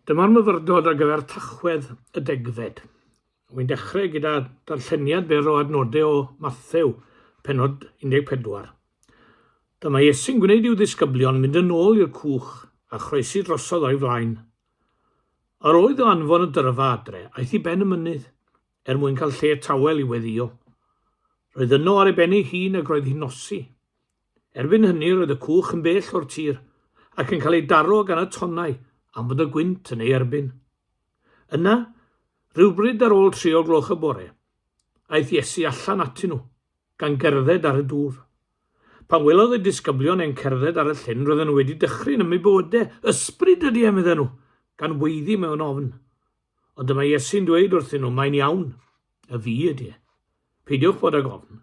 Dyma'r myfyrdod ar gyfer Tachwedd y degfed. Wy'n dechrau gyda darlleniad byr o adnodau o Mathew, penod 14. Dyma Iesu'n gwneud i'w ddisgyblion mynd yn ôl i'r cwch a chroesi drosodd o'i flaen. Yr oedd o anfon y dyrfa adre, aeth i ben y mynydd, er mwyn cael lle tawel i weddio. Roedd yno ar ei ben ei hun ac roedd hi'n nosi. Erbyn hynny roedd y cwch yn bell o'r tir ac yn cael ei daro gan y tonnau am fod y gwynt yn ei erbyn. Yna, rhywbryd ar ôl tri o gloch y bore, aeth Iesu allan atyn nhw, gan gerdded ar y dŵr. Pan welodd y disgyblion e'n cerdded ar y llyn roedden nhw wedi dychryn ym mybydau, Ysbryd ydy e, medden nhw, gan weiddi mewn ofn. Ond dyma Iesu'n dweud wrthyn nhw, Mae'n iawn, y fi ydy e. Peidiwch bod ag ofn.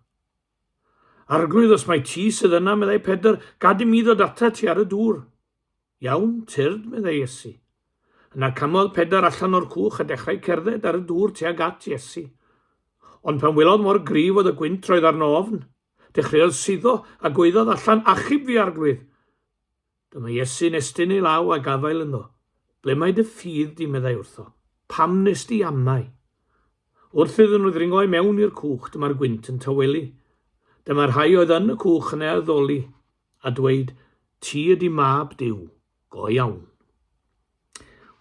Arglwydd, os mai ti sydd yna, meddai Pedr, gad i mi ddod atat ti ar y dŵr. Iawn, tyrd, meddai Iesu. Yna camodd Pedr allan o'r cwch a dechrau cerdded ar y dŵr tuag at Iesu. Ond pan welodd mor gryf oedd y gwynt roedd arno ofn. Dechreuodd suddo a gwaeddodd allan, Achub fi, Arglwydd! Dyma Iesu'n estyn ei law a gafael ynddo. Ble mae dy ffydd di, meddai wrtho. Pam nes di amau? Wrth iddyn nhw ddringo i mewn i'r cwch, dyma'r gwynt yn tawelu. Dyma rhai oedd yn y cwch yn ei addoli, a dweud, Ti ydi mab Duw, go iawn.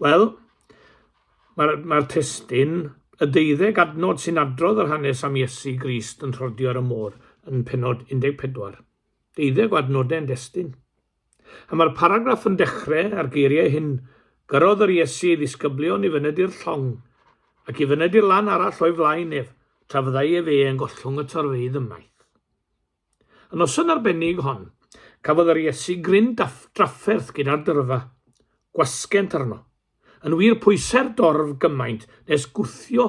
Wel, mae'r mae testyn y deuddeg adnod sy'n adrodd yr hanes am Iesu Grist yn rhodio ar y môr yn penod 14. deuddeg o adnodau'n destun. A mae'r paragraff yn dechrau â'r geiriau hyn, Gyrrodd yr Iesu ei ddisgyblion i fyned i'r llong, ac i fyned i'r lan arall o'i flaen ef, tra fyddai ef eang gollwng y torfeydd ymaith. Y noson arbennig hon, cafodd yr Iesu gryn drafferth gyda'r dyrfa, gwasgent arno. Yn wir, pwysai'r dorf gymaint nes gwthio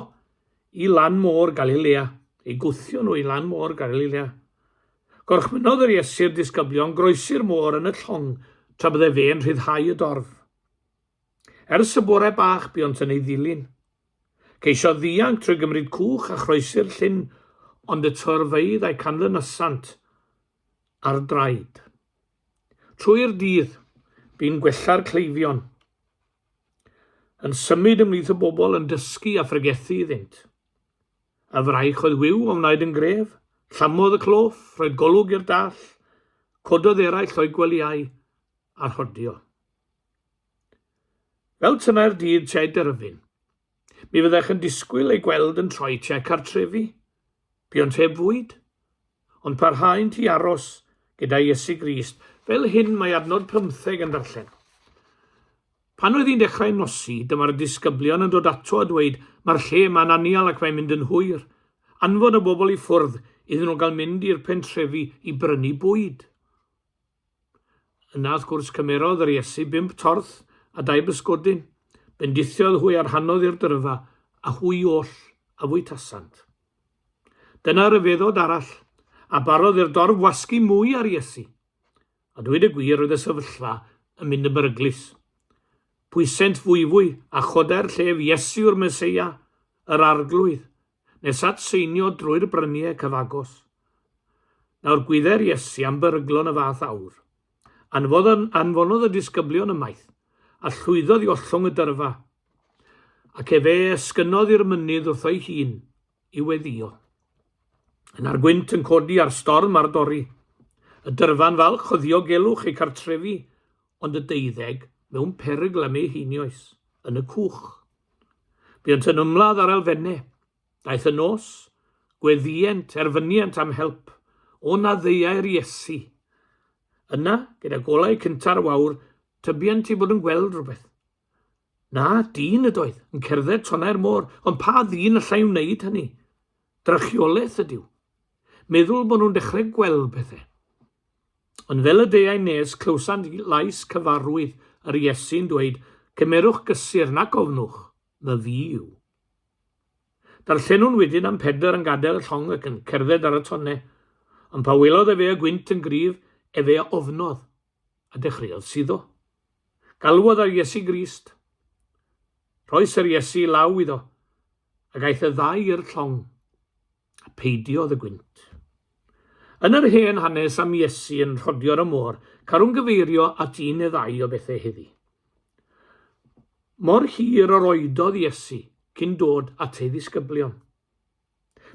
i lan môr Galilea, eu gwthio nhw i lan môr Galilea. Gorchmynnodd yr Iesu'r disgyblion groesi'r môr yn y llong tra bydde fe'n rhyddhau y dorf. Ers y bore bach buont yn ei ddilyn. Ceisiodd ddianc trwy gymryd cwch a chroesi'r llyn, ond y torfeydd a'i canlynasant ar draed. Trwy'r dydd, bu'n gwella'r cleifion, yn symud ymhlith y bobl yn dysgu a phregethu iddynt. Y fraich oedd wiw o wnaed yn gref, llamodd y cloff, rhoed golwg i'r dall, cododd eraill o'i gwelyau a rhodio. Fel tynnau'r dydd tsied yr yfyn, Mi fyddech yn disgwyl ei gweld yn troi tua cartrefi. Buont heb fwyd, ond parhaent i aros gyda Iesu Grist. Fel hyn mae adnod pymtheg yn darllen. Pan oedd hi'n dechrau nosi, dyma'r disgyblion yn dod ato a dweud, Mae'r lle yma'n anial ac mae'n mynd yn hwyr. Anfon y bobl i ffwrdd iddyn nhw gael mynd i'r pentrefi i brynu bwyd. Yna wrth gwrs cymerodd yr Iesu bump torth a dau bysgodyn, bendithiodd hwy a rhannodd i'r dyrfa, a hwy oll a fwytasant. Dyna ryfeddod arall, a barodd i'r dorf wasgu mwy ar Iesu. A dweud y gwir oedd y sefyllfa yn mynd yn beryglus. Pwysent fwyfwy a chodai'r llef Iesu yw'r Meseia, yr Arglwydd, nes at seinio drwy'r brynie cyfagos. Nawr gwydde'r Iesu am beryglon y fath awr. Anfodd yn, anfonodd y disgyblion ymaith, a llwyddodd i ollwng y dyrfa, ac efe esgynodd i'r mynydd wrtho'i hun i weddio. Yna'r gwynt yn codi a'r storm ar dorri. Y dyrfa'n falch o ddiogelwch ei cartrefi, ond y deuddeg mewn perygl am eu heinioes, yn y cwch. Buont yn ymladd ar elfenne. Daeth y nos, gweddïent, erfyniant am help, o na ddeuai'r Iesu. Yna, gyda golau cynta'r wawr, tybiant i bod yn gweld rhywbeth. Na, dyn ydoedd, yn cerdded tonnau'r môr, ond pa ddyn allai wneud hynny? Drychiolaeth ydyw. Meddwl bod nhw'n dechrau gweld pethau. Ond fel y deuai nes, clywsant lais cyfarwydd yr Iesu'n dweud, Cymerwch gysur, nac ofnwch, fy fi yw. Darllenwn wedyn am Pedr yn gadael y llong ac yn cerdded ar y tonne, ond pa welodd efe y gwynt yn gryf, efe a ofnodd, a dechreuodd suddo. Galwodd ar Iesu Grist. Rhoes yr Iesu law iddo, ac aeth y ddau i'r llong. a peidiodd y gwynt. Yn yr hen hanes am Iesu yn rhodio'r y môr, carwn gyfeirio at un neu ddau o bethau heddi. Mor hir yr oedodd Iesu cyn dod at ei ddisgyblion.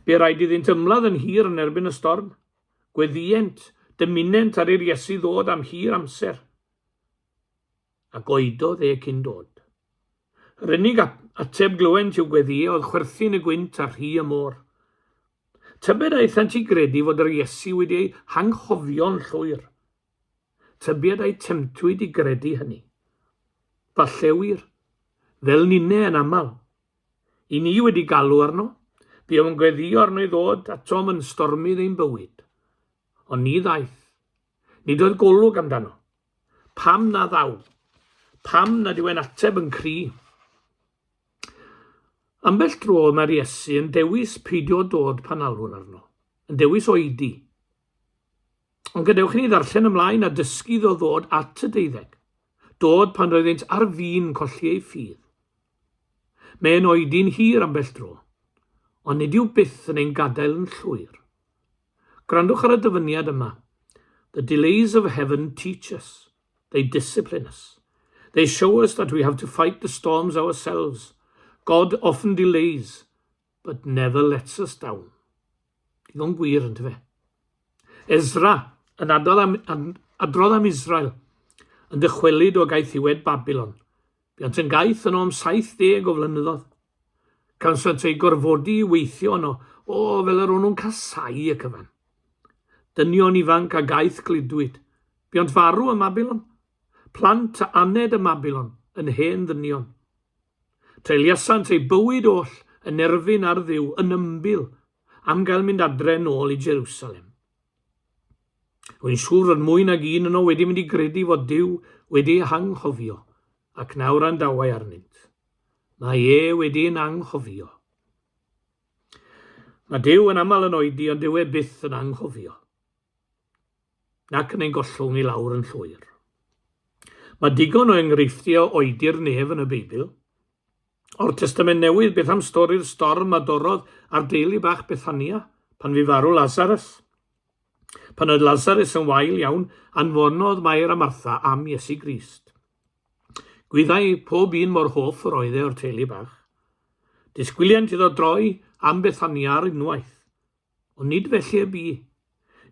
Be rhaid iddynt ymladd yn hir yn erbyn y storm. Gweddient, dymunent ar i'r Iesu ddod am hir amser. A goedodd e cyn dod. Yr unig ateb glywen i'w gweddïau oedd chwerthin y gwynt a rhy y môr. Tybed a aethant i gredu fod yr Iesu wedi eu hanghofio'n llwyr? Tybied a'u temtwyd i gredu hynny? Falle wir, fel ninne yn aml. I ni wedi galw arno, bu o'n gweddïo arno i ddod atom yn stormydd ein bywyd. Ond ni ddaeth. Nid oedd golwg amdano. Pam na ddaw? Pam nad yw e'n ateb yn cri? Ambell dro mae'r Iesu yn dewis peidio dod pan alwr arno, yn dewis oedi. Ond gadewch i ni ddarllen ymlaen a dysgu ddo ddod at y deuddeg, dod pan roeddynt ar fin colli ei ffydd. Mae'n oedi'n hir ambell dro, ond nid yw byth yn ein gadael yn llwyr. Gwrandwch ar y dyfyniad yma, The delays of heaven teach us, they discipline us. They show us that we have to fight the storms ourselves. God often delays, but never lets us down. Digon gwir, yn fe. Ezra yn adrodd am, am, adrodd am Israel yn dychwelyd o gaethiwed Babylon. Buont yn gaeth yno am 70 o flynyddoedd. Cansant eu gorfodi i weithio yno, o, fel yr o'n nhw'n casau y cyfan. Dynion ifanc a gaeth gludwyd. Buont farw ym Mabilon. Plant a aned ym Mabilon, yn hen ddynion. Treuliasant eu bywyd oll yn erfyn ar Dduw yn ymbil am gael mynd adre nôl i Jerusalem. Rwy'n siŵr fod mwy nag un yno wedi mynd i gredu fod Duw wedi ei hanghofio ac na wrandawai arnynt. Mae e wedi ein anghofio. Mae Duw yn aml yn oedi ond dyw e byth yn anghofio. Nac yn ein gollwng i lawr yn llwyr. Mae digon o enghreifftiau o oedi'r nef yn y Beibl. O'r Testament Newydd, beth am stori'r storm a dorrodd ar deulu bach Bethania pan fu farw Lazarus? Pan oedd Lazarus yn wael iawn, anfonodd Mair a Martha am Iesu Grist. Gwyddai pob un mor hoff yr oedd e o'r teulu bach. Disgwyliant iddo droi am Bethania ar unwaith. Ond nid felly y bu.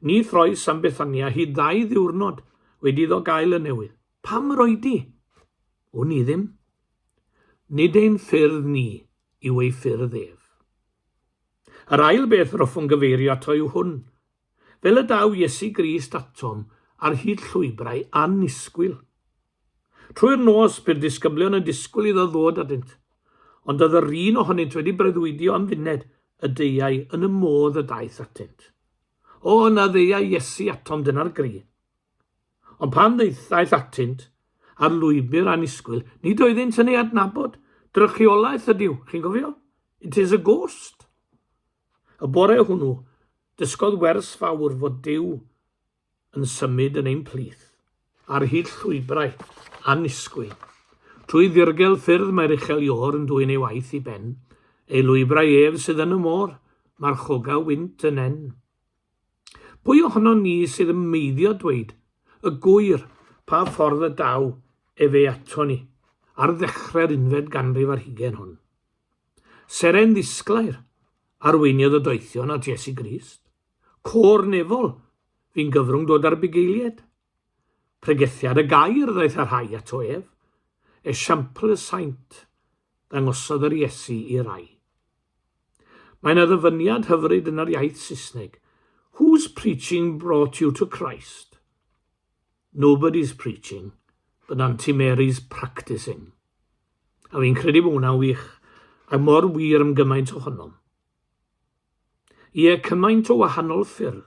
Ni throes am Bethania hyd ddau ddiwrnod wedi iddo gael y newydd. Pam yr oedi? Wn i ddim. Nid ein ffyrdd ni yw ei ffyrdd ef. Yr ail beth yr hoffwn gyfeirio ato yw hwn. Fel y daw Iesu Grist atom ar hyd llwybrau annisgwyl, Trwy'r nos, bu'r disgyblion yn disgwyl iddo ddod atynt, ond oedd yr un ohonynt wedi breuddwydio am funed y deuai yn y modd y daeth atynt. O, yna ddeuai Iesu atom dyna'r gri. Ond pan ddaeth atynt ar lwybr annisgwyl, nid oeddynt yn ei adnabod. Drychiolaeth ydyw, chi'n gofio? It is a ghost. Y bore hwnnw, dysgodd wers fawr fod Dyw yn symud yn ein plith, ar hyd llwybrau annisgwyl. Trwy ddirgel ffyrdd mae'r uchel iôr yn dwyn ei waith i ben, ei lwybrau ef sydd yn y môr, mae'r choga wynt yn en. Pwy ohonon ni sydd yn meiddio dweud y gwyr pa ffordd y daw efe ato ni ar ddechrau'r unfed ganrif ar hugen hwn? Seren ddisglair arweiniodd y doethion at Iesu Grist. Côr nefol, fi'n gyfrwng dod â'r bugeilied. Pregethiad y gair ddaeth y rhai ato ef, esiampl y saint, ddangosodd yr Iesu i rai. Mae yna ddyfyniad hyfryd yn yr iaith Saesneg, Whose preaching brought you to Christ? Nobody's preaching, but Auntie Mary's practising. A fi'n credu bod hwnna'n wych, a mor wir am gymaint ohonom. Ie, cymaint o wahanol ffyrdd.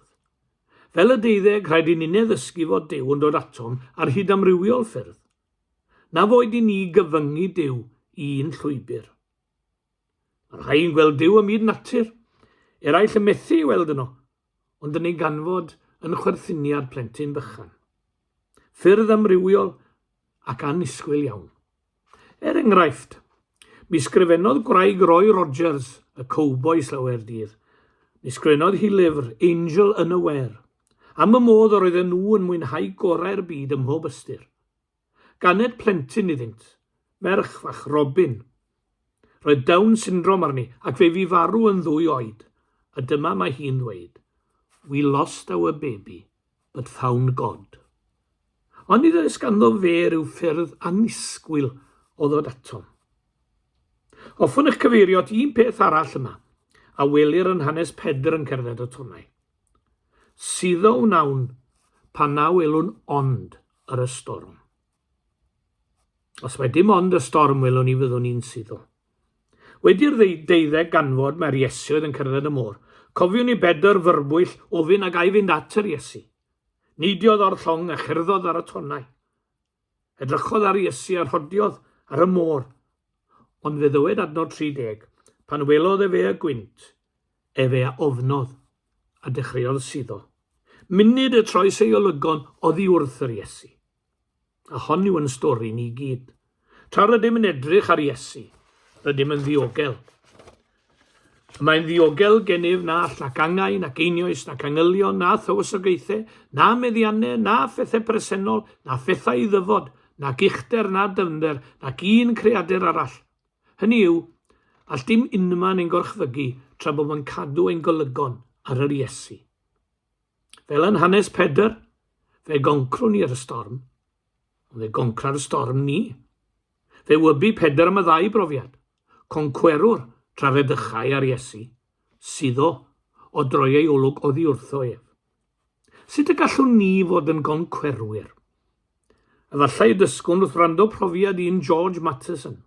Fel y deuddeg, rhaid i ninne ddysgu fod Duw yn dod atom ar hyd amrywiol ffyrdd. Na foed i ni gyfyngu Duw i un llwybr. Mae rhai yn gweld Duw ym myd natur, eraill yn methu ei weld yno, ond yn ei ganfod yn chwerthiniad plentyn bychan. Ffyrdd amrywiol ac annisgwyl iawn. Er enghraifft, mi sgrifennodd gwraig Roy Rogers, y cowboi slawer dydd, mi sgrifennodd hi lyfr Angel Unaware, am y modd yr oedden nhw yn mwynhau gorau'r byd ym mhob ystyr. Ganed plentyn iddynt, merch fach Robin. Roedd Down syndrom arni ac fe fu farw yn ddwy oed, a dyma mae hi'n ddweud, We lost our baby, but found God. Ond nid oes ganddo fe rhyw ffyrdd annisgwyl o ddod atom. Hoffwn eich cyfeirio at un peth arall yma, a welir yn hanes Pedr yn cerdded y tonau. Suddo wnawn pan naw elwn ond ar y storm. Os mae dim ond y storm welwn ni fyddwn ni'n suddo. Wedi'r deuddeg ganfod mae'r Iesu oedd yn cerdded y môr. Cofiwn i bedr fyrbwyll ofyn ag ai fynd at yr Iesu. Neidiodd o'r llong a cherddodd ar y tonnau. Edrychodd ar Iesu a rhodiodd ar y môr. Ond fe ddywed adnod 30, pan welodd e fe y gwynt, Efe a ofnodd, a dechreuodd suddo. Munud y troes ei olygon oddi wrth yr Iesu. A hon yw yn stori ni gyd. Tra rydym yn edrych ar Iesu, rydym yn ddiogel. Y mae'n ddiogel gennyf na all nac angau, nac einioes, nac angylion, na thywysogaethau, na meddiannau, na phethau presennol, na phethau i ddyfod, nac uchder, na dyfnder, nac un creadur arall, Hynny yw, all dim unman ein gorchfygu tra bod yn cadw ein golygon ar yr Iesu. Fel yn hanes Pedr, fe goncrwn ni ar y storm, ond fe goncra'r storm ni. Fe wybu Pedr am y ddau brofiad, concwerwr tra fe ddychau ar Iesu, suddo o droi ei olwg oddi wrtho ef. Sut y gallwn ni fod yn goncwerwyr? Efallai y dysgwn wrth wrando profiad un George Matheson.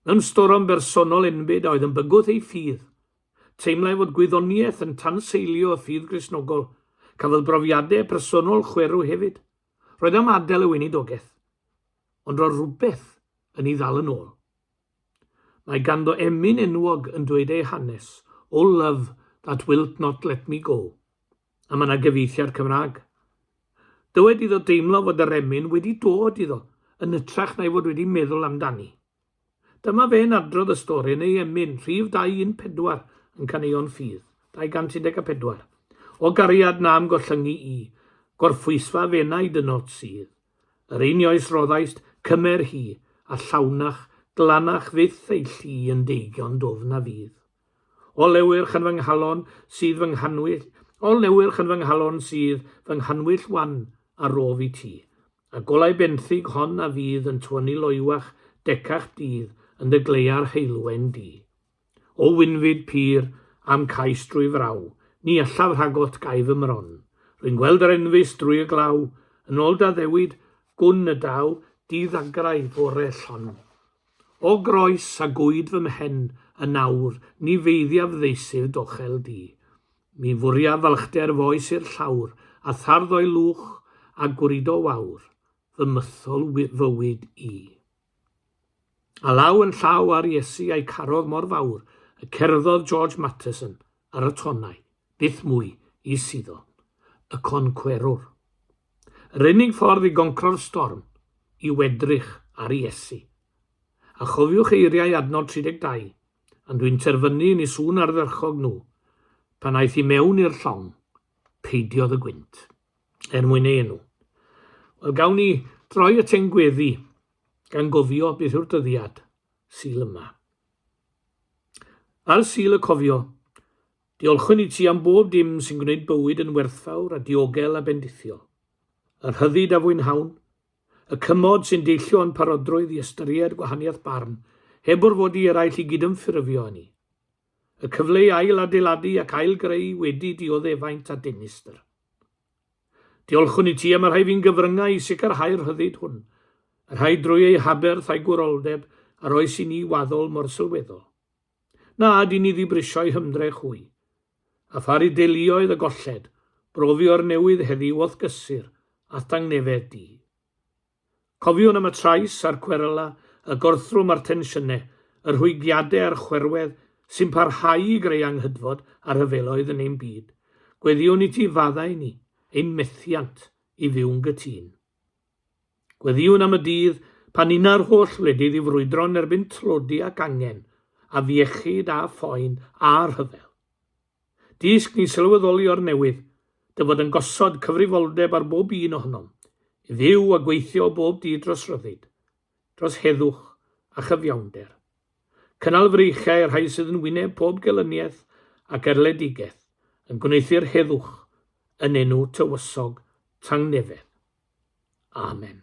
Mewn storom bersonol enbyd a oedd yn bygwth ei ffydd, teimlai fod gwyddoniaeth yn tanseilio y ffydd Gristnogol. Cafodd brofiadau personol chwerw hefyd. Roedd am adael y weinidogaeth, ond roedd rhywbeth yn ei ddal yn ôl. Mae ganddo emyn enwog yn dweud ei hanes, O love that wilt not let me go. A mae 'na gyfieithiad Cymraeg. Dywed iddo deimlo fod yr emyn wedi dod iddo, yn ytrach na'i fod wedi meddwl amdani. Dyma fe'n adrodd y stori yn ei emyn, rhif 214 yn Caneuon Ffydd, 214. O gariad na'm gollyngu i, gorffwysfa fenai dy nod sydd, Yr un ioes roddaist cymer hi, a llawnach, glanach fyth ei llu yn deigion dwfn a fudd. O lewyrch yn fy nghalon sydd fy nghanwyll, o lewyrch yn fy nghalon sydd fy nghanwyll wan a rof i ti, a golau benthyg hon a fydd yn tywynnu loywach, decach dydd yn dy gleua'r heulwen di. O winfyd pur a'm cais drwy fraw, ni allaf rhagot ga'i fy mron. Rwy'n gweld yr enfys drwy y glaw, yn ôl da ddewid, gwn y daw di ddagrau fore llon. O groes a gwyd fy mhen yn awr, ni feiddiaf ddeisydd dochel di. Mi fwriaf falchder foes i'r llawr, a thardd o'i lwch, a gwrido wawr, fy mythol fywyd i. A law yn llaw â'r Iesu a'i carodd mor fawr y cerddodd George Matteson ar y tonnau, byth mwy i suddo. Y Concwerwr. Yr unig ffordd i goncro'r storm yw edrych ar Iesu. A chofiwch eiriau adnod 32, Yn dwi'n terfynu yn i sŵn ardderchog nhw, pan aeth i mewn i'r llong, peidiodd y gwynt. er mwyn ei enw. Wel, gawn ni droi at ein gweddi gan gofio beth yw'r dyddiad syl yma. Ar syl y cofio, diolchwn i ti am bob dim sy'n gwneud bywyd yn werthfawr a diogel a bendithiol. Yr hyddid a fwynhawn, y cymod sy'n deillio yn parodrwydd i ystyried gwahaniaeth barn, heb orfod i eraill i gydymffurfio â ni. Y cyfle i ail adeiladu ac ail greu wedi dioddefaint a denistr. Diolchwn i ti am y rhai fi'n gyfryngau i sicrhau'r rhyddid hwn, y rhai drwy eu haberth a'u gwroldeb a roes i ni waddol mor sylweddol. Na ad i ni ddibrisio eu hymdrech hwy. A pharu deuluoedd y golled, brofio'r newydd heddiw o'th gysur a'th tangnefedd di. Cofiwn am y trais a'r cweryla, y gorthrwm a'r tensiyne, y rhwygiade a'r chwerwedd sy'n parhau i greu anghydfod a rhyfeloedd yn ein byd. Gweddïwn i ti faddau ni, ein methiant, i fyw'n gytun. Gweddïwn am y dydd pan una'r holl wledydd i frwydro yn erbyn tlodi ac angen, afiechyd a phoen a rhyfel. Dysg ni sylweddoli o'r newydd, dy fod yn gosod cyfrifoldeb ar bob un ohonom, i fyw a gweithio o bob dydd dros ryddid, dros heddwch a chyfiawnder. Cynnal freichiau y rhai sydd yn wyneb pob gelyniaeth ac erledigaeth, yn gwneuthur heddwch, yn enw tywysog tangnefedd. Amen.